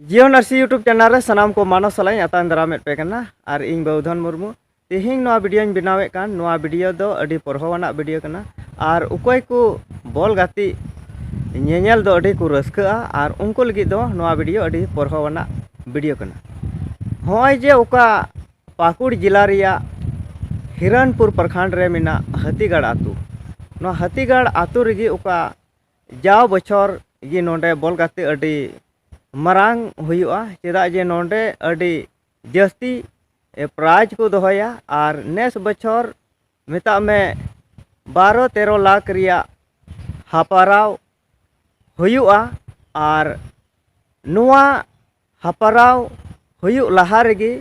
ᱡᱤᱭᱚᱱ ᱟᱨ ᱥᱤ ᱭᱩᱴᱩᱵᱽ ᱪᱮᱱᱮᱞ ᱨᱮ ᱥᱟᱱᱟᱢ ᱠᱚ ᱢᱟᱱᱚ ᱥᱟᱞᱟᱜ ᱤᱧ ᱟᱛᱟᱝ ᱫᱟᱨᱟᱢᱮᱫ ᱯᱮ ᱠᱟᱱᱟ ᱟᱨ ᱤᱧ ᱵᱟᱹᱣᱫᱷᱚᱱ ᱢᱩᱨᱢᱩ ᱛᱮᱦᱮᱧ ᱱᱚᱣᱟ ᱵᱷᱤᱰᱤᱭᱳᱧ ᱵᱮᱱᱟᱣᱮᱫ ᱠᱟᱱ ᱱᱚᱣᱟ ᱵᱷᱤᱰᱤᱭᱳ ᱫᱚ ᱟᱹᱰᱤ ᱯᱚᱨᱦᱚᱣᱟᱱᱟᱜ ᱵᱷᱤᱰᱤᱭᱳ ᱠᱟᱱᱟ ᱟᱨ ᱚᱠᱚᱭ ᱠᱚ ᱵᱚᱞ ᱜᱟᱛᱮᱜ ᱧᱮᱧᱮᱞ ᱫᱚ ᱟᱹᱰᱤ ᱠᱚ ᱨᱟᱹᱥᱠᱟᱹᱜᱼᱟ ᱟᱨ ᱩᱱᱠᱩ ᱞᱟᱹᱜᱤᱫ ᱫᱚ ᱱᱚᱣᱟ ᱵᱷᱤᱰᱤᱭᱳ ᱟᱹᱰᱤ ᱯᱚᱨᱦᱚᱣᱟᱱᱟᱜ ᱵᱷᱤᱰᱤᱭᱳ ᱠᱟᱱᱟ ᱦᱚᱸᱜᱼᱚᱭ ᱡᱮ ᱚᱠᱟ ᱯᱟᱹᱠᱩᱲ ᱡᱮᱞᱟ ᱨᱮᱭᱟᱜ ᱦᱤᱨᱚᱱᱯᱩᱨ ᱯᱨᱚᱠᱷᱚᱸᱰ ᱨᱮ ᱢᱮᱱᱟᱜ ᱦᱟᱹᱛᱤᱜᱟᱲ ᱟᱹᱛᱩ ᱱᱚᱣᱟ ᱦᱟᱹᱛᱤᱜᱟᱲ ᱟᱹᱛᱩ ᱨᱮᱜᱮ ᱚᱠᱟ ᱡᱟᱣ ᱵᱚᱪᱷᱚᱨ ᱜᱮ ᱱᱚᱰᱮ ᱵᱚᱞ ᱜᱟᱛᱮ ᱟᱹᱰᱤ ᱢᱟᱨᱟᱝ ᱦᱩᱭᱩᱜᱼᱟ ᱪᱮᱫᱟᱜ ᱡᱮ ᱱᱚᱰᱮ ᱟᱹᱰᱤ ᱡᱟᱹᱥᱛᱤ ᱯᱨᱟᱭᱤᱡᱽ ᱠᱚ ᱫᱚᱦᱚᱭᱟ ᱟᱨ ᱱᱮᱥ ᱵᱚᱪᱷᱚᱨ ᱢᱮᱛᱟᱜ ᱢᱮ ᱵᱟᱨᱚ ᱛᱮᱨᱚ ᱞᱟᱠᱷ ᱨᱮᱭᱟᱜ ᱦᱟᱯᱟᱨᱟᱣ ᱦᱩᱭᱩᱜᱼᱟ ᱟᱨ ᱱᱚᱣᱟ ᱦᱟᱯᱟᱨᱟᱣ ᱦᱩᱭᱩᱜ ᱞᱟᱦᱟ ᱨᱮᱜᱮ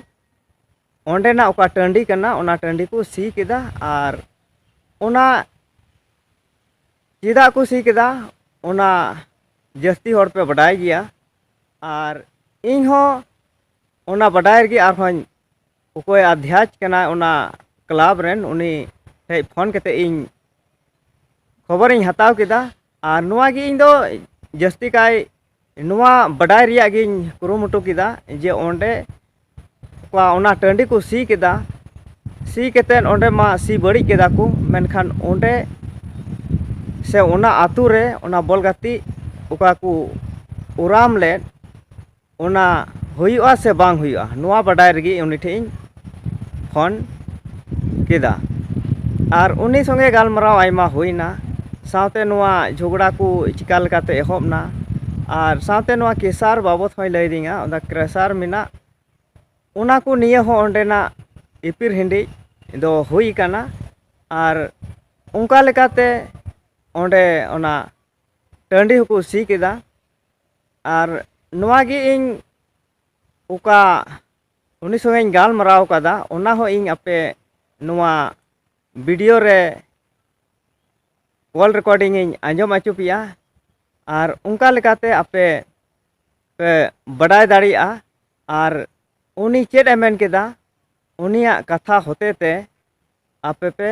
ᱚᱸᱰᱮᱱᱟᱜ ᱚᱠᱟ ᱴᱟᱺᱰᱤ ᱠᱟᱱᱟ ᱚᱱᱟ ᱴᱟᱺᱰᱤ ᱠᱚ ᱥᱤ ᱠᱮᱫᱟ ᱟᱨ ᱚᱱᱟ ᱪᱮᱫᱟᱜ ᱠᱚ ᱥᱤ ᱠᱮᱫᱟ ᱚᱱᱟ ᱡᱟᱹᱥᱛᱤ ᱦᱚᱲ ᱯᱮ ᱵᱟᱰᱟᱭ ᱜᱮᱭᱟ ᱟᱨ ᱤᱧ ᱦᱚᱸ ᱚᱱᱟ ᱵᱟᱰᱟᱭ ᱨᱮᱜᱮ ᱟᱨᱦᱚᱸ ᱚᱠᱚᱭ ᱟᱫᱷᱭᱟᱪ ᱠᱟᱱᱟᱭ ᱚᱱᱟ ᱠᱞᱟᱵᱽ ᱨᱮᱱ ᱩᱱᱤ ᱴᱷᱮᱡ ᱯᱷᱳᱱ ᱠᱟᱛᱮ ᱤᱧ ᱠᱷᱚᱵᱚᱨᱤᱧ ᱦᱟᱛᱟᱣ ᱠᱮᱫᱟ ᱟᱨ ᱱᱚᱣᱟ ᱜᱮ ᱤᱧ ᱫᱚ ᱡᱟᱹᱥᱛᱤ ᱠᱟᱭ ᱱᱚᱣᱟ ᱵᱟᱰᱟᱭ ᱨᱮᱭᱟᱜ ᱜᱤᱧ ᱠᱩᱨᱩᱢᱩᱴᱩ ᱠᱮᱫᱟ ᱡᱮ ᱚᱸᱰᱮ ᱚᱱᱟ ᱴᱟᱺᱰᱤ ᱠᱚ ᱥᱤ ᱠᱮᱫᱟ ᱥᱤ ᱠᱟᱛᱮᱫ ᱚᱸᱰᱮ ᱢᱟ ᱥᱤ ᱵᱟᱹᱲᱤᱡ ᱠᱮᱫᱟ ᱠᱚ ᱢᱮᱱᱠᱷᱟᱱ ᱚᱸᱰᱮ ᱥᱮ ᱚᱱᱟ ᱟᱹᱛᱩ ᱨᱮ ᱚᱱᱟ ᱵᱚᱞ ᱜᱟᱛᱮᱜ ᱚᱠᱟ ᱠᱚ ᱳᱨᱟᱢ ᱞᱮᱫ ᱚᱱᱟ ᱦᱩᱭᱩᱜᱼᱟ ᱥᱮ ᱵᱟᱝ ᱦᱩᱭᱩᱜᱼᱟ ᱱᱚᱣᱟ ᱵᱟᱰᱟᱭ ᱞᱟᱹᱜᱤᱫ ᱩᱱᱤ ᱴᱷᱮᱱ ᱤᱧ ᱯᱷᱳᱱ ᱠᱮᱫᱟ ᱟᱨ ᱩᱱᱤ ᱥᱚᱸᱜᱮ ᱜᱟᱞᱢᱟᱨᱟᱣ ᱟᱭᱢᱟ ᱦᱩᱭᱱᱟ ᱥᱟᱶᱛᱮ ᱱᱚᱣᱟ ᱡᱷᱚᱜᱽᱲᱟ ᱠᱚ ᱪᱤᱠᱟᱹ ᱞᱮᱠᱟᱛᱮ ᱮᱦᱚᱵ ᱮᱱᱟ ᱟᱨ ᱥᱟᱶᱛᱮ ᱱᱚᱣᱟ ᱠᱮᱥᱟᱨ ᱵᱟᱵᱚᱫ ᱦᱚᱸᱭ ᱞᱟᱹᱭ ᱟᱹᱫᱤᱧᱟ ᱚᱱᱟ ᱠᱮᱥᱟᱨ ᱢᱮᱱᱟᱜ ᱚᱱᱟ ᱠᱚ ᱱᱤᱭᱮ ᱦᱚᱸ ᱚᱸᱰᱮᱱᱟᱜ ᱮᱯᱮᱨ ᱦᱮᱸᱰᱮᱡ ᱫᱚ ᱦᱩᱭ ᱠᱟᱱᱟ ᱟᱨ ᱚᱱᱠᱟ ᱞᱮᱠᱟᱛᱮ ᱚᱸᱰᱮ ᱚᱱᱟ ᱴᱟᱺᱰᱤ ᱦᱚᱸᱠᱚ ᱥᱤ ᱠᱮᱫᱟ ᱟᱨ ᱱᱚᱣᱟ ᱜᱮ ᱤᱧ ᱚᱠᱟ ᱩᱱᱤ ᱥᱚᱸᱜᱮ ᱤᱧ ᱜᱟᱞᱢᱟᱨᱟᱣ ᱟᱠᱟᱫᱟ ᱚᱱᱟ ᱦᱚᱸ ᱤᱧ ᱟᱯᱮ ᱱᱚᱣᱟ ᱵᱷᱤᱰᱤᱭᱳ ᱨᱮ ᱠᱚᱞ ᱨᱮᱠᱚᱨᱰᱤᱝ ᱤᱧ ᱟᱸᱡᱚᱢ ᱟᱪᱚ ᱯᱮᱭᱟ ᱟᱨ ᱚᱱᱠᱟ ᱞᱮᱠᱟᱛᱮ ᱟᱯᱮ ᱯᱮ ᱵᱟᱰᱟᱭ ᱫᱟᱲᱮᱭᱟᱜᱼᱟ ᱟᱨ ᱩᱱᱤ ᱪᱮᱫ ᱮ ᱢᱮᱱ ᱠᱮᱫᱟ ᱩᱱᱤᱭᱟᱜ ᱠᱟᱛᱷᱟ ᱦᱚᱛᱮ ᱛᱮ ᱟᱯᱮ ᱯᱮ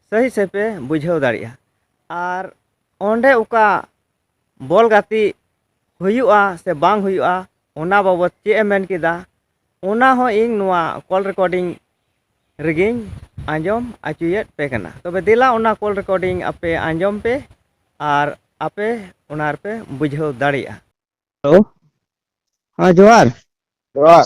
ᱥᱟᱹᱦᱤ ᱥᱟᱹᱦᱤ ᱯᱮ ᱵᱩᱡᱷᱟᱹᱣ ᱫᱟᱲᱮᱭᱟᱜᱼᱟ ᱟᱨ ᱚᱸᱰᱮ ᱚᱠᱟ ᱵᱚᱞ ᱜᱟᱛᱮᱜ ᱦᱩᱭᱩᱜᱼᱟ ᱥᱮ ᱵᱟᱝ ᱦᱩᱭᱩᱜᱼᱟ ᱚᱱᱟ ᱵᱟᱵᱚᱫ ᱪᱮᱫ ᱮ ᱢᱮᱱ ᱠᱮᱫᱟ ᱚᱱᱟ ᱦᱚᱸ ᱤᱧ ᱱᱚᱣᱟ ᱠᱚᱞ ᱨᱮᱠᱳᱰᱤᱝ ᱨᱮᱜᱮᱧ ᱟᱸᱡᱚᱢ ᱟᱪᱚᱭᱮᱫ ᱯᱮ ᱠᱟᱱᱟ ᱛᱚᱵᱮ ᱫᱮᱞᱟ ᱚᱱᱟ ᱠᱚᱞ ᱨᱮᱠᱳᱰᱤᱝ ᱟᱯᱮ ᱟᱸᱡᱚᱢ ᱯᱮ ᱟᱨ ᱟᱯᱮ ᱚᱱᱟ ᱨᱮᱯᱮ ᱵᱩᱡᱷᱟᱹᱣ ᱫᱟᱲᱮᱭᱟᱜᱼᱟ ᱦᱮᱞᱳ ᱦᱮᱸ ᱡᱚᱦᱟᱨ ᱡᱚᱦᱟᱨ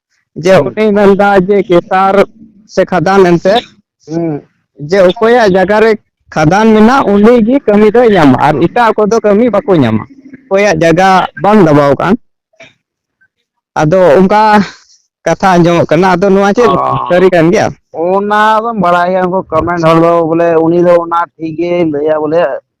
ᱡᱮ ᱦᱩᱸ ᱩᱱᱤ ᱢᱮᱱᱫᱟ ᱡᱮ ᱠᱮᱥᱟᱨ ᱥᱮ ᱠᱷᱟᱫᱟᱱ ᱮᱱᱛᱮ ᱦᱩᱸ ᱡᱮ ᱚᱠᱚᱭᱟᱜ ᱡᱟᱭᱜᱟ ᱨᱮ ᱠᱷᱟᱫᱟᱱ ᱢᱮᱱᱟᱜ ᱩᱱᱤ ᱜᱮ ᱠᱟᱹᱢᱤ ᱫᱚᱭ ᱧᱟᱢᱟ ᱟᱨ ᱮᱴᱟᱜ ᱠᱚᱫᱚ ᱠᱟᱹᱢᱤ ᱵᱟᱠᱚ ᱧᱟᱢᱟ ᱚᱠᱚᱭᱟᱜ ᱡᱟᱭᱜᱟ ᱵᱟᱝ ᱫᱟᱵᱟᱣ ᱠᱟᱱ ᱟᱫᱚ ᱚᱱᱠᱟ ᱠᱟᱛᱷᱟ ᱟᱸᱡᱚᱢᱚᱜ ᱠᱟᱱᱟ ᱟᱫᱚ ᱱᱚᱣᱟ ᱪᱮᱫ ᱚ ᱥᱟᱹᱨᱤ ᱠᱟᱱ ᱜᱮᱭᱟ ᱚᱱᱟ ᱫᱚᱢ ᱵᱟᱲᱟᱭ ᱜᱮᱭᱟ ᱩᱱᱠᱩ ᱠᱚᱢᱮᱱᱰ ᱦᱚᱲ ᱫᱚ ᱵᱚᱞᱮ ᱩᱱᱤ ᱫᱚ ᱚᱱᱟ ᱴᱷᱤᱠ ᱜᱮ ᱞᱟᱹᱭᱟ ᱵᱚᱞᱮ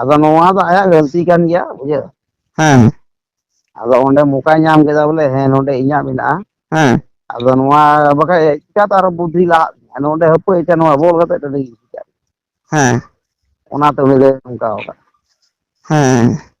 ᱟᱫᱚ ᱱᱚᱣᱟ ᱫᱚ ᱟᱭᱟᱜ ᱜᱟᱹᱞᱛᱤ ᱠᱟᱱ ᱜᱮᱭᱟ ᱵᱩᱡᱷᱟᱹᱣ ᱦᱮᱸ ᱟᱫᱚ ᱚᱸᱰᱮ ᱢᱚᱠᱟᱭ ᱧᱟᱢ ᱠᱮᱫᱟ ᱵᱚᱞᱮ ᱦᱮᱸ ᱱᱚᱰᱮ ᱤᱧᱟᱹᱜ ᱢᱮᱱᱟᱜᱼᱟ ᱦᱮᱸ ᱟᱫᱚ ᱱᱚᱣᱟ ᱵᱟᱠᱷᱟᱡ ᱪᱤᱠᱟᱛᱮ ᱟᱨᱚ ᱵᱩᱫᱽᱫᱷᱤ ᱞᱟᱦᱟᱜ ᱛᱤᱧᱟ ᱱᱚᱰᱮ ᱦᱟᱹᱯᱟᱹᱭ ᱟᱪᱪᱷᱟ ᱱᱚᱣᱟ ᱵᱚᱞ ᱜᱟᱛᱮ ᱴᱟᱺᱰᱤ ᱦᱮᱸ ᱚᱱᱟᱛᱮ ᱩᱱᱤ ᱫᱚᱭ ᱱᱚᱝᱠᱟᱣ ᱠᱟᱜ ᱦᱮᱸ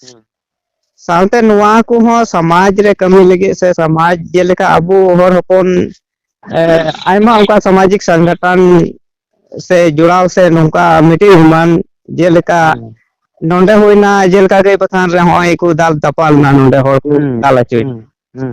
ᱦᱮᱸ ᱥᱟᱶᱛᱮ ᱱᱚᱣᱟ ᱠᱚᱦᱚᱸ ᱥᱚᱢᱟᱡᱽ ᱨᱮ ᱠᱟᱹᱢᱤ ᱞᱟᱹᱜᱤᱫ ᱥᱮ ᱥᱚᱢᱟᱡᱽ ᱡᱮᱞᱮᱠᱟ ᱟᱵᱚ ᱦᱚᱲ ᱦᱚᱯᱚᱱ ᱟᱭᱢᱟ ᱚᱱᱠᱟ ᱥᱟᱢᱟᱡᱤᱠ ᱥᱚᱝᱜᱚᱴᱷᱚᱱ ᱥᱮ ᱡᱚᱲᱟᱣ ᱥᱮ ᱱᱚᱝᱠᱟ ᱢᱤᱫᱴᱤᱡ ᱮᱢᱟᱱ ᱡᱮᱞᱮᱠᱟ ᱦᱩᱸ ᱱᱚᱰᱮ ᱦᱩᱭᱱᱟ ᱡᱮᱞᱮᱠᱟ ᱜᱟᱹᱭ ᱵᱟᱛᱷᱟᱱ ᱨᱮ ᱱᱚᱜᱼᱚᱭ ᱠᱚ ᱫᱟᱞ ᱫᱟᱯᱟᱞᱱᱟ ᱱᱚᱰᱮ ᱦᱚᱲ ᱠᱚ ᱦᱩᱸ ᱫᱟᱞ ᱦᱚᱪᱚᱭᱮᱱᱟ ᱦᱩᱸ ᱦᱩᱸ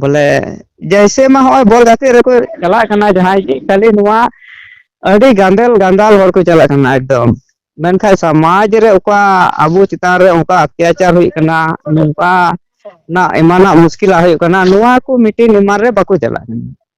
ᱵᱚᱞᱮ ᱡᱮᱭᱥᱮ ᱢᱟ ᱦᱚᱜᱼᱚᱭ ᱵᱚᱞ ᱜᱟᱛᱮᱜ ᱨᱮᱠᱚ ᱪᱟᱞᱟᱜ ᱠᱟᱱᱟ ᱡᱟᱦᱟᱸᱭ ᱜᱮ ᱠᱷᱟᱹᱞᱤ ᱱᱚᱣᱟ ᱟᱹᱰᱤ ᱜᱟᱸᱫᱮᱞ ᱜᱟᱸᱫᱟᱞ ᱦᱚᱲ ᱠᱚ ᱪᱟᱞᱟᱜ ᱠᱟᱱᱟ ᱮᱠᱫᱚᱢ ᱢᱮᱱᱠᱷᱟᱡ ᱥᱚᱢᱟᱡᱽ ᱨᱮ ᱚᱠᱟ ᱟᱵᱚ ᱪᱮᱛᱟᱱ ᱨᱮ ᱚᱱᱠᱟ ᱚᱛᱛᱟᱪᱟᱨ ᱦᱩᱭᱩᱜ ᱠᱟᱱᱟ ᱱᱚᱝᱠᱟ ᱱᱟᱜ ᱮᱢᱟᱱᱟᱜ ᱢᱩᱥᱠᱤᱞᱟᱜ ᱦᱩᱭᱩᱜ ᱠᱟᱱᱟ ᱱᱚᱣᱟ ᱠᱚ ᱢᱤᱴᱤᱱ ᱮᱢᱟᱱ ᱨᱮ ᱵᱟᱠᱚ ᱪᱟᱞᱟᱜ ᱠᱟᱱᱟ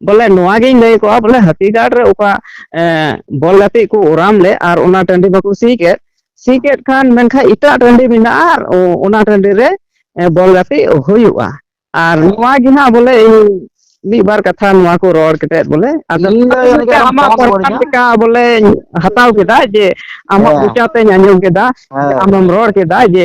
ᱵᱚᱞᱮ ᱱᱚᱣᱟ ᱜᱤᱧ ᱞᱟᱹᱭ ᱠᱚᱜᱼᱟ ᱵᱚᱞᱮ ᱦᱟᱹᱛᱤ ᱜᱟᱲ ᱨᱮ ᱚᱠᱟ ᱵᱚᱞ ᱜᱟᱛᱮᱜ ᱠᱚ ᱚᱨᱟᱢ ᱞᱮᱫ ᱟᱨ ᱚᱱᱟ ᱴᱟᱺᱰᱤ ᱵᱟᱠᱚ ᱥᱤ ᱠᱮᱫ ᱥᱤ ᱠᱮᱫ ᱠᱷᱟᱱ ᱢᱮᱱᱠᱷᱟᱱ ᱮᱴᱟᱜ ᱴᱟᱺᱰᱤ ᱢᱮᱱᱟᱜᱼᱟ ᱟᱨ ᱚᱱᱟ ᱴᱟᱺᱰᱤ ᱨᱮ ᱵᱚᱞ ᱜᱟᱛᱮᱜ ᱦᱩᱭᱩᱜᱼᱟ ᱟᱨ ᱱᱚᱣᱟ ᱜᱮ ᱦᱟᱸᱜ ᱵᱚᱞᱮ ᱤᱧ ᱢᱤᱫ ᱵᱟᱨ ᱠᱟᱛᱷᱟ ᱱᱚᱣᱟ ᱠᱚ ᱨᱚᱲ ᱠᱟᱛᱮᱫ ᱵᱚᱞᱮ ᱟᱫᱚ ᱤᱧ ᱫᱚ ᱡᱟᱹᱱᱤᱡ ᱠᱷᱟᱱ ᱟᱢ ᱟᱢᱟᱜ ᱠᱚᱢ ᱯᱨᱚᱥᱛᱟᱵ ᱠᱷᱚᱵᱚᱨᱤᱧᱟ ᱞᱮᱠᱟ ᱵᱚᱞᱮᱧ ᱦᱟᱛᱟᱣ ᱠᱮᱫᱟ ᱡᱮ ᱟᱢᱟᱜ ᱦᱮᱸ ᱢᱚᱪᱟ ᱛᱮᱧ ᱟᱸᱡᱚᱢ ᱠᱮᱫᱟ ᱦᱮᱸ ᱟᱢᱮᱢ ᱨᱚᱲ ᱠᱮᱫᱟ ᱡᱮ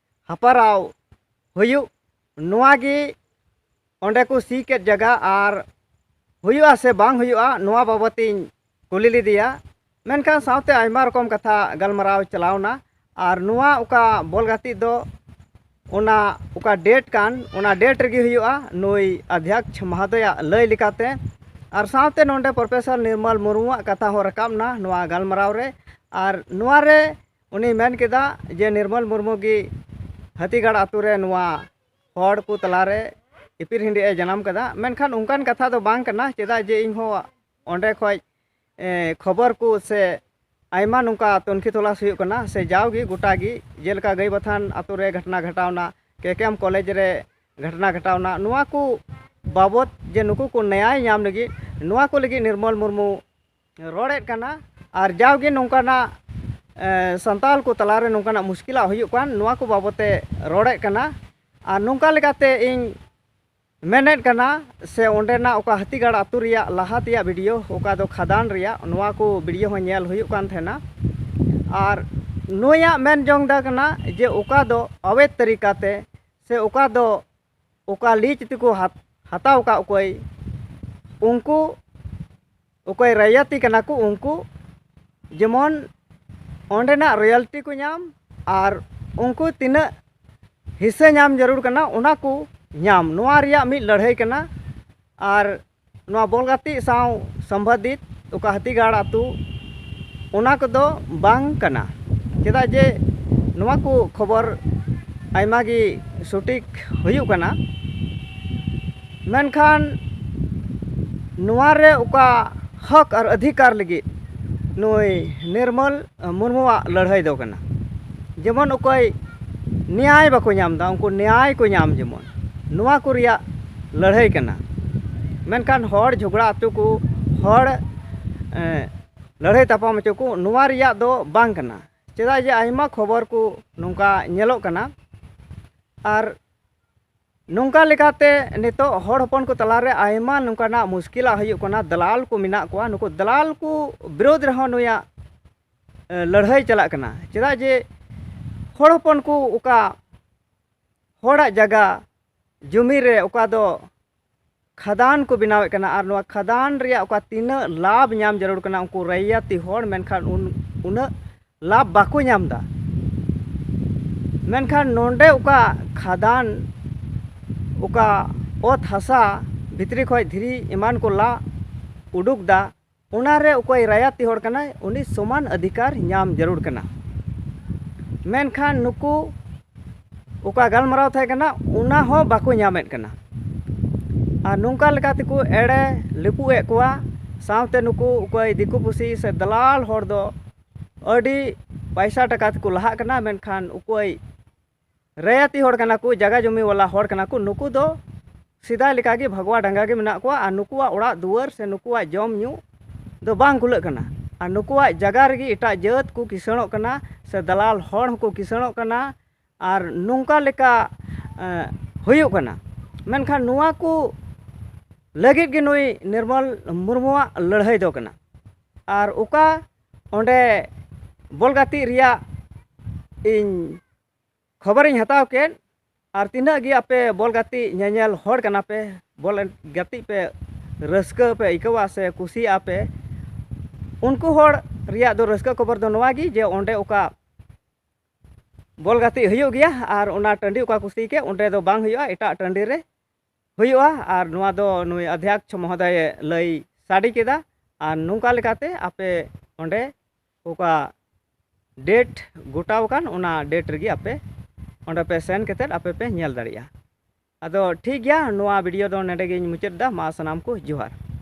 ᱦᱟᱯᱟᱨᱟᱣ ᱦᱩᱭᱩᱜ ᱱᱚᱣᱟ ᱜᱮ ᱚᱸᱰᱮ ᱠᱚ ᱥᱤ ᱠᱮᱫ ᱡᱟᱭᱜᱟ ᱟᱨ ᱦᱩᱭᱩᱜᱼᱟ ᱥᱮ ᱵᱟᱝ ᱦᱩᱭᱩᱜᱼᱟ ᱱᱚᱣᱟ ᱵᱟᱵᱚᱫ ᱤᱧ ᱠᱩᱞᱤ ᱞᱮᱫᱮᱭᱟ ᱢᱮᱱᱠᱷᱟᱱ ᱥᱟᱶᱛᱮ ᱟᱭᱢᱟ ᱨᱚᱠᱚᱢ ᱠᱟᱛᱷᱟ ᱜᱟᱞᱢᱟᱨᱟᱣ ᱪᱟᱞᱟᱣ ᱮᱱᱟ ᱟᱨ ᱱᱚᱣᱟ ᱚᱠᱟ ᱵᱚᱞ ᱜᱟᱛᱮᱜ ᱫᱚ ᱚᱱᱟ ᱚᱠᱟ ᱰᱮᱴ ᱠᱟᱱ ᱚᱱᱟ ᱰᱮᱴ ᱨᱮᱜᱮ ᱦᱩᱭᱩᱜᱼᱟ ᱱᱩᱭ ᱟᱫᱷᱭᱟᱠᱥ ᱢᱚᱦᱚᱫᱚᱭᱟᱜ ᱞᱟᱹᱭ ᱞᱮᱠᱟᱛᱮ ᱟᱨ ᱥᱟᱶᱛᱮ ᱱᱚᱰᱮ ᱯᱨᱚᱯᱷᱮᱥᱚᱨ ᱱᱤᱨᱢᱚᱞ ᱢᱩᱨᱢᱩᱣᱟᱜ ᱠᱟᱛᱷᱟ ᱦᱚᱸ ᱨᱟᱠᱟᱵ ᱮᱱᱟ ᱱᱚᱣᱟ ᱜᱟᱞᱢᱟᱨᱟᱣ ᱨᱮ ᱟᱨ ᱱᱚᱣᱟ ᱨᱮ ᱩᱱᱤᱭ ᱢᱮᱱ ᱠᱮᱫᱟ ᱡᱮ ᱱᱤᱨᱢᱚᱞ ᱢᱩᱨᱢᱩ ᱜᱮ ᱦᱟᱹᱛᱤᱜᱟᱲ ᱟᱛᱳ ᱨᱮ ᱱᱚᱣᱟ ᱦᱚᱲ ᱠᱚ ᱛᱟᱞᱟ ᱨᱮ ᱤᱯᱤᱨ ᱦᱮᱰᱮᱡ ᱮ ᱡᱟᱱᱟᱢ ᱠᱟᱫᱟ ᱢᱮᱱᱠᱷᱟᱱ ᱚᱱᱠᱟᱱ ᱠᱟᱛᱷᱟ ᱫᱚ ᱵᱟᱝ ᱠᱟᱱᱟ ᱪᱮᱫᱟᱜ ᱡᱮ ᱤᱧ ᱦᱚᱸ ᱚᱸᱰᱮ ᱠᱷᱚᱱ ᱠᱷᱚᱵᱚᱨ ᱠᱚ ᱥᱮ ᱟᱭᱢᱟ ᱱᱚᱝᱠᱟ ᱛᱩᱱᱠᱷᱤ ᱛᱚᱞᱟᱥ ᱦᱩᱭᱩᱜ ᱠᱟᱱᱟ ᱥᱮ ᱡᱟᱣ ᱜᱮ ᱜᱚᱴᱟ ᱜᱮ ᱡᱮᱞᱮᱠᱟ ᱜᱟᱹᱭ ᱵᱟᱛᱷᱟᱱ ᱟᱛᱳ ᱨᱮ ᱜᱷᱚᱴᱚᱱᱟ ᱜᱷᱚᱴᱟᱣᱱᱟ ᱠᱮ ᱠᱮ ᱮᱢ ᱠᱚᱞᱮᱡᱽ ᱨᱮ ᱜᱷᱚᱴᱚᱱᱟ ᱜᱷᱚᱴᱟᱣᱱᱟ ᱱᱚᱣᱟ ᱠᱚ ᱵᱟᱵᱚᱫ ᱡᱮ ᱱᱩᱠᱩ ᱠᱚ ᱱᱮᱭᱟᱭ ᱧᱟᱢ ᱞᱟᱹᱜᱤᱫ ᱱᱚᱣᱟ ᱠᱚ ᱞᱟᱹᱜᱤᱫ ᱱᱤᱨᱢᱚᱞ ᱢᱩᱨᱢᱩ ᱨᱚᱲᱮᱫ ᱠᱟᱱᱟ ᱟᱨ ᱡᱟᱣᱜᱮ ᱱᱚᱝᱠᱟᱱᱟᱜ ᱥᱟᱱᱛᱟᱲ ᱠᱚ ᱛᱟᱞᱟᱨᱮ ᱱᱚᱝᱠᱟᱱᱟᱜ ᱢᱩᱥᱠᱤᱞᱟᱜ ᱦᱩᱭᱩᱜ ᱠᱟᱱ ᱱᱚᱣᱟ ᱠᱚ ᱵᱟᱵᱚᱫ ᱛᱮ ᱨᱚᱲᱮᱫ ᱠᱟᱱᱟ ᱟᱨ ᱱᱚᱝᱠᱟ ᱞᱮᱠᱟᱛᱮ ᱤᱧ ᱢᱮᱱᱮᱫ ᱠᱟᱱᱟ ᱥᱮ ᱚᱸᱰᱮᱱᱟᱜ ᱚᱠᱟ ᱦᱟᱹᱛᱤᱜᱟᱲ ᱟᱹᱛᱩ ᱨᱮᱭᱟᱜ ᱞᱟᱦᱟ ᱛᱮᱭᱟᱜ ᱵᱷᱤᱰᱤᱭᱳ ᱚᱠᱟ ᱫᱚ ᱠᱷᱟᱫᱟᱱ ᱨᱮᱭᱟᱜ ᱱᱚᱣᱟ ᱠᱚ ᱵᱷᱤᱰᱤᱭᱳ ᱦᱚᱸ ᱧᱮᱞ ᱦᱩᱭᱩᱜ ᱠᱟᱱ ᱛᱟᱦᱮᱱᱟ ᱟᱨ ᱱᱩᱭᱟᱜ ᱢᱮᱱ ᱡᱚᱝ ᱫᱚ ᱠᱟᱱᱟ ᱡᱮ ᱚᱠᱟ ᱫᱚ ᱟᱵᱮᱫ ᱛᱟᱹᱨᱤᱠᱟᱛᱮ ᱥᱮ ᱚᱠᱟ ᱫᱚ ᱚᱠᱟ ᱞᱤᱡᱽ ᱛᱮᱠᱚ ᱦᱟᱛᱟᱣ ᱟᱠᱟᱫ ᱚᱠᱚᱭ ᱩᱱᱠᱩ ᱚᱠᱚᱭ ᱨᱟᱭᱟᱛᱤ ᱠᱟᱱᱟ ᱠᱚ ᱩᱱᱠᱩ ᱡᱮᱢᱚᱱ ᱚᱸᱰᱮᱱᱟᱜ ᱨᱚᱭᱟᱞᱴᱤ ᱠᱚ ᱧᱟᱢ ᱟᱨ ᱩᱱᱠᱩ ᱛᱤᱱᱟᱹᱜ ᱦᱤᱥᱟᱹ ᱧᱟᱢ ᱡᱟᱹᱨᱩᱲ ᱠᱟᱱᱟ ᱚᱱᱟ ᱠᱚ ᱧᱟᱢ ᱱᱚᱣᱟ ᱨᱮᱭᱟᱜ ᱢᱤᱫ ᱞᱟᱹᱲᱦᱟᱹᱭ ᱠᱟᱱᱟ ᱟᱨ ᱱᱚᱣᱟ ᱵᱚᱞ ᱜᱟᱛᱮᱜ ᱥᱟᱶ ᱥᱚᱢᱵᱟᱫᱷᱤᱛ ᱚᱠᱟ ᱦᱟᱹᱛᱤᱜᱟᱲ ᱟᱹᱛᱩ ᱚᱱᱟ ᱠᱚᱫᱚ ᱵᱟᱝ ᱠᱟᱱᱟ ᱪᱮᱫᱟᱜ ᱡᱮ ᱱᱚᱣᱟ ᱠᱚ ᱠᱷᱚᱵᱚᱨ ᱟᱭᱢᱟ ᱜᱮ ᱥᱚᱴᱷᱤᱠ ᱦᱩᱭᱩᱜ ᱠᱟᱱᱟ ᱢᱮᱱᱠᱷᱟᱱ ᱱᱚᱣᱟ ᱨᱮ ᱚᱠᱟ ᱦᱚᱸᱠ ᱟᱨ ᱚᱫᱷᱤᱠᱟᱨ ᱞᱟᱹᱜᱤᱫ ᱱᱩᱭ ᱱᱤᱨᱢᱚᱞ ᱢᱩᱨᱢᱩᱣᱟᱜ ᱞᱟᱹᱲᱦᱟᱹᱭ ᱫᱚ ᱠᱟᱱᱟ ᱡᱮᱢᱚᱱ ᱚᱠᱚᱭ ᱱᱮᱭᱟᱭ ᱵᱟᱠᱚ ᱧᱟᱢ ᱮᱫᱟ ᱩᱱᱠᱩ ᱱᱮᱭᱟᱭ ᱠᱚ ᱧᱟᱢ ᱡᱮᱢᱚᱱ ᱱᱚᱣᱟ ᱠᱚ ᱨᱮᱭᱟᱜ ᱞᱟᱹᱲᱦᱟᱹᱭ ᱠᱟᱱᱟ ᱢᱮᱱᱠᱷᱟᱱ ᱦᱚᱲ ᱡᱷᱚᱜᱽᱲᱟ ᱦᱚᱪᱚ ᱠᱚ ᱦᱚᱲ ᱞᱟᱹᱲᱦᱟᱹᱭ ᱛᱟᱯᱟᱢ ᱦᱚᱪᱚ ᱠᱚ ᱱᱚᱣᱟ ᱨᱮᱭᱟᱜ ᱫᱚ ᱵᱟᱝ ᱠᱟᱱᱟ ᱪᱮᱫᱟᱜ ᱡᱮ ᱟᱭᱢᱟ ᱠᱷᱚᱵᱚᱨ ᱠᱚ ᱱᱚᱝᱠᱟ ᱧᱮᱞᱚᱜ ᱠᱟᱱᱟ ᱟᱨ ᱱᱚᱝᱠᱟ ᱞᱮᱠᱟᱛᱮ ᱱᱤᱛᱚᱜ ᱦᱚᱲ ᱦᱚᱯᱚᱱ ᱠᱚ ᱛᱟᱞᱟ ᱨᱮ ᱟᱭᱢᱟ ᱱᱚᱝᱠᱟᱱᱟᱜ ᱢᱩᱥᱠᱤᱞᱟᱜ ᱦᱩᱭᱩᱜ ᱠᱟᱱᱟ ᱫᱟᱞᱟᱞ ᱠᱚ ᱢᱮᱱᱟᱜ ᱠᱚᱣᱟ ᱱᱩᱠᱩ ᱫᱟᱞᱟᱞ ᱠᱚ ᱵᱤᱨᱳᱫᱷ ᱨᱮᱦᱚᱸ ᱱᱩᱭᱟᱜ ᱞᱟᱹᱲᱦᱟᱹᱭ ᱪᱟᱞᱟᱜ ᱠᱟᱱᱟ ᱪᱮᱫᱟᱜ ᱡᱮ ᱦᱚᱲ ᱦᱚᱯᱚᱱ ᱠᱚ ᱚᱠᱟ ᱦᱚᱲᱟᱜ ᱡᱟᱭᱜᱟ ᱡᱩᱢᱤ ᱨᱮ ᱚᱠᱟ ᱫᱚ ᱠᱷᱟᱫᱟᱱ ᱠᱚ ᱵᱮᱱᱟᱣᱮᱫ ᱠᱟᱱᱟ ᱟᱨ ᱱᱚᱣᱟ ᱠᱷᱟᱫᱟᱱ ᱨᱮᱭᱟᱜ ᱚᱠᱟ ᱛᱤᱱᱟᱹᱜ ᱞᱟᱵᱷ ᱧᱟᱢ ᱡᱟᱹᱨᱩᱲ ᱠᱟᱱᱟ ᱩᱱᱠᱩ ᱨᱟᱭᱟᱛᱤ ᱦᱚᱲ ᱢᱮᱱᱠᱷᱟᱱ ᱩᱱᱟᱹᱜ ᱞᱟᱵᱷ ᱵᱟᱠᱚ ᱧᱟᱢᱫᱟ ᱢᱮᱱᱠᱷᱟᱱ ᱱᱚᱰᱮ ᱚᱠᱟ ᱠᱷᱟᱫᱟᱱ ᱚᱠᱟ ᱚᱛ ᱦᱟᱥᱟ ᱵᱷᱤᱛᱨᱤ ᱠᱷᱚᱱ ᱫᱷᱤᱨᱤ ᱮᱢᱟᱱ ᱠᱚ ᱞᱟ ᱩᱰᱩᱠᱫᱟ ᱚᱱᱟ ᱨᱮ ᱚᱠᱚᱭ ᱨᱟᱭᱟᱛᱤ ᱦᱚᱲ ᱠᱟᱱᱟᱭ ᱩᱱᱤ ᱥᱚᱢᱟᱱ ᱚᱫᱷᱤᱠᱟᱨ ᱧᱟᱢ ᱡᱟᱹᱨᱩᱲ ᱠᱟᱱᱟ ᱢᱮᱱᱠᱷᱟᱱ ᱱᱩᱠᱩ ᱚᱠᱟ ᱜᱟᱞᱢᱟᱨᱟᱣ ᱛᱟᱦᱮᱸ ᱠᱟᱱᱟ ᱚᱱᱟ ᱦᱚᱸ ᱵᱟᱠᱚ ᱧᱟᱢᱮᱫ ᱠᱟᱱᱟ ᱟᱨ ᱱᱚᱝᱠᱟ ᱞᱮᱠᱟ ᱛᱮᱠᱚ ᱮᱲᱮ ᱞᱤᱯᱩᱜ ᱮᱫ ᱠᱚᱣᱟ ᱥᱟᱶᱛᱮ ᱱᱩᱠᱩ ᱚᱠᱚᱭ ᱫᱤᱠᱩ ᱯᱩᱥᱤ ᱥᱮ ᱫᱟᱞᱟᱞ ᱦᱚᱲ ᱫᱚ ᱟᱹᱰᱤ ᱯᱚᱭᱥᱟ ᱴᱟᱠᱟ ᱛᱮᱠᱚ ᱞᱟᱦᱟᱜ ᱠᱟᱱᱟ ᱢᱮᱱᱠᱷᱟᱱ ᱚᱠᱚᱭ ᱨᱟᱭᱟᱛᱤ ᱦᱚᱲ ᱠᱟᱱᱟ ᱠᱚ ᱡᱟᱭᱜᱟ ᱡᱚᱢᱤ ᱣᱟᱞᱟ ᱦᱚᱲ ᱠᱟᱱᱟ ᱠᱚ ᱱᱩᱠᱩ ᱫᱚ ᱥᱮᱫᱟᱭ ᱞᱮᱠᱟ ᱜᱮ ᱵᱷᱟᱜᱽᱣᱟ ᱰᱟᱸᱜᱟ ᱜᱮ ᱢᱮᱱᱟᱜ ᱠᱚᱣᱟ ᱟᱨ ᱱᱩᱠᱩᱣᱟᱜ ᱚᱲᱟᱜ ᱫᱩᱣᱟᱹᱨ ᱥᱮ ᱱᱩᱠᱩᱣᱟᱜ ᱡᱚᱢ ᱧᱩ ᱫᱚ ᱵᱟᱝ ᱠᱩᱞᱟᱹᱜ ᱠᱟᱱᱟ ᱟᱨ ᱱᱩᱠᱩᱣᱟᱜ ᱡᱟᱭᱜᱟ ᱨᱮᱜᱮ ᱮᱴᱟᱜ ᱡᱟᱹᱛ ᱠᱚ ᱠᱤᱥᱟᱹᱬᱚᱜ ᱠᱟᱱᱟ ᱥᱮ ᱫᱟᱞᱟᱞ ᱦᱚᱲ ᱦᱚᱸᱠᱚ ᱠᱤᱥᱟᱹᱬᱚᱜ ᱠᱟᱱᱟ ᱟᱨ ᱱᱚᱝᱠᱟ ᱞᱮᱠᱟ ᱦᱩᱭᱩᱜ ᱠᱟᱱᱟ ᱢᱮᱱᱠᱷᱟᱱ ᱱᱚᱣᱟ ᱠᱚ ᱞᱟᱹᱜᱤᱫ ᱜᱮ ᱱᱩᱭ ᱱᱤᱨᱢᱚᱞ ᱢᱩᱨᱢᱩᱣᱟᱜ ᱞᱟᱹᱲᱦᱟᱹᱭ ᱫᱚ ᱠᱟᱱᱟ ᱟᱨ ᱚᱠᱟ ᱚᱸᱰᱮ ᱵᱚᱞ ᱜᱟᱛᱮᱜ ᱨᱮᱭᱟᱜ ᱤᱧ ᱠᱷᱚᱵᱚᱨᱤᱧ ᱦᱟᱛᱟᱣ ᱠᱮᱫ ᱟᱨ ᱛᱤᱱᱟᱹᱜ ᱜᱮ ᱟᱯᱮ ᱵᱚᱞ ᱜᱟᱛᱮᱜ ᱧᱮᱧᱮᱞ ᱦᱚᱲ ᱠᱟᱱᱟ ᱯᱮ ᱵᱚᱞ ᱜᱟᱛᱮᱜ ᱯᱮ ᱨᱟᱹᱥᱠᱟᱹ ᱯᱮ ᱟᱹᱭᱠᱟᱹᱣᱟ ᱥᱮ ᱠᱩᱥᱤᱭᱟᱜᱼᱟ ᱯᱮ ᱩᱱᱠᱩ ᱦᱚᱲ ᱨᱮᱭᱟᱜ ᱫᱚ ᱨᱟᱹᱥᱠᱟᱹ ᱠᱷᱚᱵᱚᱨ ᱫᱚ ᱱᱚᱣᱟ ᱜᱮ ᱡᱮ ᱚᱸᱰᱮ ᱚᱠᱟ ᱵᱚᱞ ᱜᱟᱛᱮᱜ ᱦᱩᱭᱩᱜ ᱜᱮᱭᱟ ᱟᱨ ᱚᱱᱟ ᱴᱟᱺᱰᱤ ᱚᱠᱟ ᱠᱚ ᱥᱤ ᱠᱮᱫ ᱚᱸᱰᱮ ᱫᱚ ᱵᱟᱝ ᱦᱩᱭᱩᱜᱼᱟ ᱮᱴᱟᱜ ᱴᱟᱺᱰᱤ ᱨᱮ ᱦᱩᱭᱩᱜᱼᱟ ᱟᱨ ᱱᱚᱣᱟ ᱫᱚ ᱱᱩᱭ ᱟᱫᱷᱭᱟᱠᱥ ᱢᱚᱦᱚᱫᱚᱭᱮ ᱞᱟᱹᱭ ᱥᱟᱰᱮ ᱠᱮᱫᱟ ᱟᱨ ᱱᱚᱝᱠᱟ ᱞᱮᱠᱟᱛᱮ ᱟᱯᱮ ᱚᱸᱰᱮ ᱚᱠᱟ ᱰᱮᱴ ᱜᱚᱴᱟᱣ ᱟᱠᱟᱱ ᱚᱱᱟ ᱰᱮᱴ ᱨᱮᱜᱮ ᱟᱯᱮ ᱚᱸᱰᱮ ᱯᱮ ᱥᱮᱱ ᱠᱟᱛᱮᱫ ᱟᱯᱮ ᱯᱮ ᱧᱮᱞ ᱫᱟᱲᱮᱭᱟᱜᱼᱟ ᱟᱫᱚ ᱴᱷᱤᱠ ᱜᱮᱭᱟ ᱱᱚᱣᱟ ᱵᱷᱤᱰᱤᱭᱳ ᱫᱚ ᱱᱚᱰᱮ ᱜᱤᱧ ᱢᱩᱪᱟᱹᱫ ᱮᱫᱟ ᱢᱟ ᱥᱟᱱᱟᱢ ᱠᱚ ᱡᱚᱦᱟᱨ